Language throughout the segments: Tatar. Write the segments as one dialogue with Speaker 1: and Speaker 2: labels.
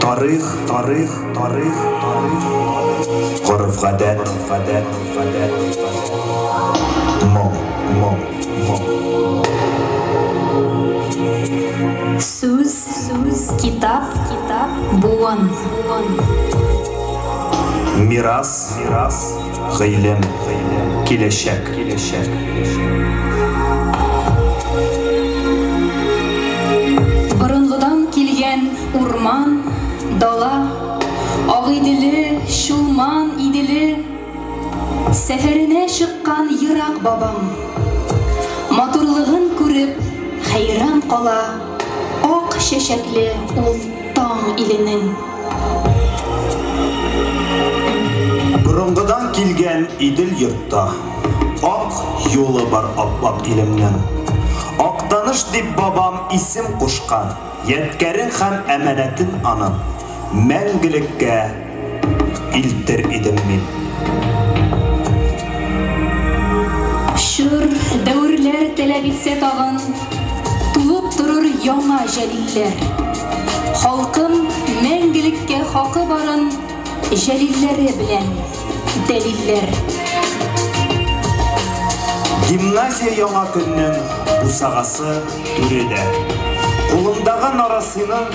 Speaker 1: Тарих, тарих, тарих, тарих. Горф гадәт, гадәт, гадәт. Моң, моң, моң. Сүз, сүз, китап, китап, буын, буын. Мирас, мирас, мирас. гыйлем, киләчәк. Борынгыдан килгән урман, дала, Агыйделе, Чулман, Иделе. Сәфәренә чыккан ерак бабам, Матурлыгын күреп, хәйран кала, Ак чәчәкле ул. Таң иленең. Борынгыдан килгән Идел йортта. Ак юлы бар ап-ак илемнең. Актаныш дип бабам исем кушкан. Ядкәрең һәм әманәтен аның. Мәңгелеккә. илтер идем мин. Чор, дәверләр таләп итсә тагын, Туып торыр яңа Җәлилләр. Халкым мәңгелеккә хакы барын Җәлилләре белән дәлилләр. Гимназия яңа көннең бусагасы түре дә. Кулымдагы нарасыйның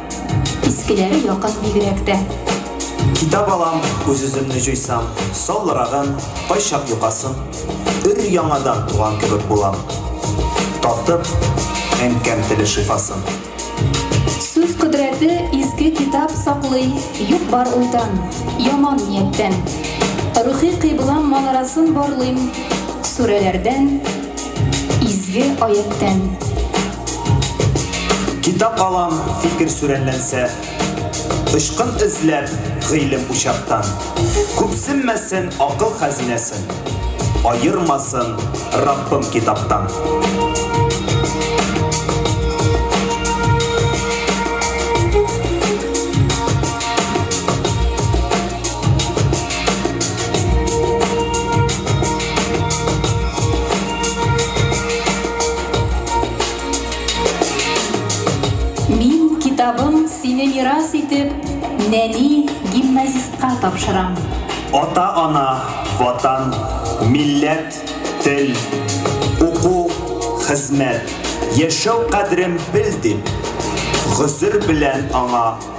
Speaker 1: Искеләре якын бигрәк тә. Китап алам, үз-үземне җуйсам, саллырагын, кайчак йокасын, өр-яңадан туган кебек булам. Татып, әнкәм теле шифасын. Сүз кодрәте изге китап саклый юк-бар уйдан, яман нияттән. Рухи кыйблам манарасын барлыйм, сүрәләрдән, изге аятьтән. Китап алам, фикер сүрәнләнсә. Очкын эзләп, гыйлем учактан. Күпсенмәсен акыл хәзинәсен. Аермасын Раббым китаптан. Мин китабым сине мирас итеп нәни гимназистка тапшырам. Ата-ана, Ватан, милләт, тел, уку, хезмәт, яшәү кадерен бел дип, гозер белән аңа.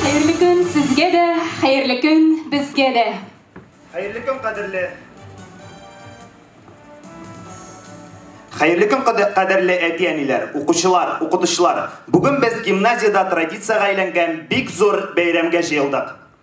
Speaker 1: Хәерле көн сезгә дә, хәерле көн безгә дә! Хәерле көн, кадерле! Хәерле көн, кадерле әти-әниләр, укучылар, укытучылар! Бүген без гимназиядә традициягә әйләнгән бик зур бәйрәмгә җыелдык.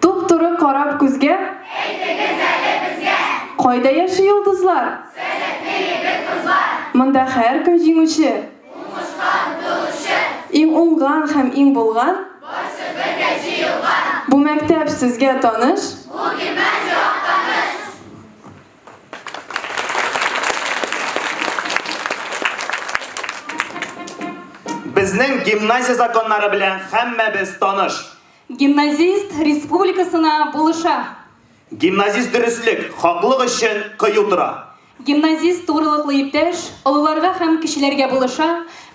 Speaker 1: Туп-туры карап күзгә. Әйтегез әле безгә. Кайда яши йолдызлар? Сәләтле егет-кызлар. Монда һәркем җиңүче. Уңышка омтылучы. Иң уңган һәм иң булган. Барсы бергә җыелган. Бу мәктәп сезгә таныш? Бу гимназия Актаныш. Безнең гимназия законнары белән һәммәбез таныш. Гимназист республикасына булыша. Гимназист дөреслек, хаклык өчен кыю тора. Гимназист тугрылыклы иптәш, олыларга һәм кечеләргә булыша,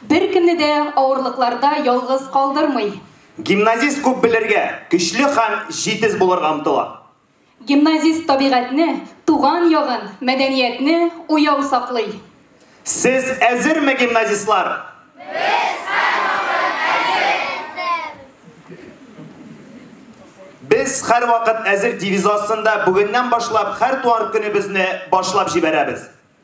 Speaker 1: беркемне дә авырлыкларда ялгыз калдырмый. Гимназист күп белергә, көчле һәм җитез булырга омтыла. Гимназист табигатьне, туган ягын, мәдәниятне уяу саклый. Сез әзерме, гимназистлар? Без һәрвакыт әзер! Без һәрвакыт әзер девизы астында бүгеннән башлап һәр туар көнебезне башлап җибәрәбез.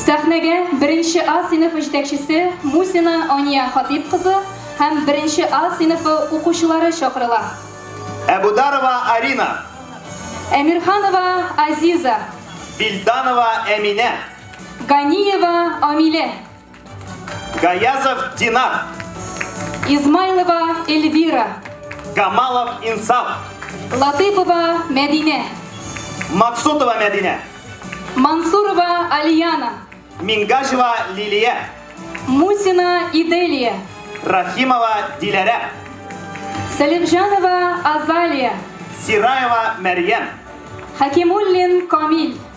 Speaker 1: Сәхнәгә беренче А сыйныфы җитәкчесе Мусина Ания Хатыйп кызы һәм беренче А сыйныфы укучылары чакырыла. Әбүдарова Арина. Әмирханова Азиза. Билданова Әминә. Ганиева Амилә. Гаязов Динар. Измайлова Эльвира. Гамалов Инсаф. Латыпова Мәдинә. Максутова Мәдинә. Мансурова Алияна. Мингажева Лилия. Мусина Иделия. Рахимова Диләрә. Сәлимҗанова Азалия. Сираева Мәрьям. Хакимуллин Камил.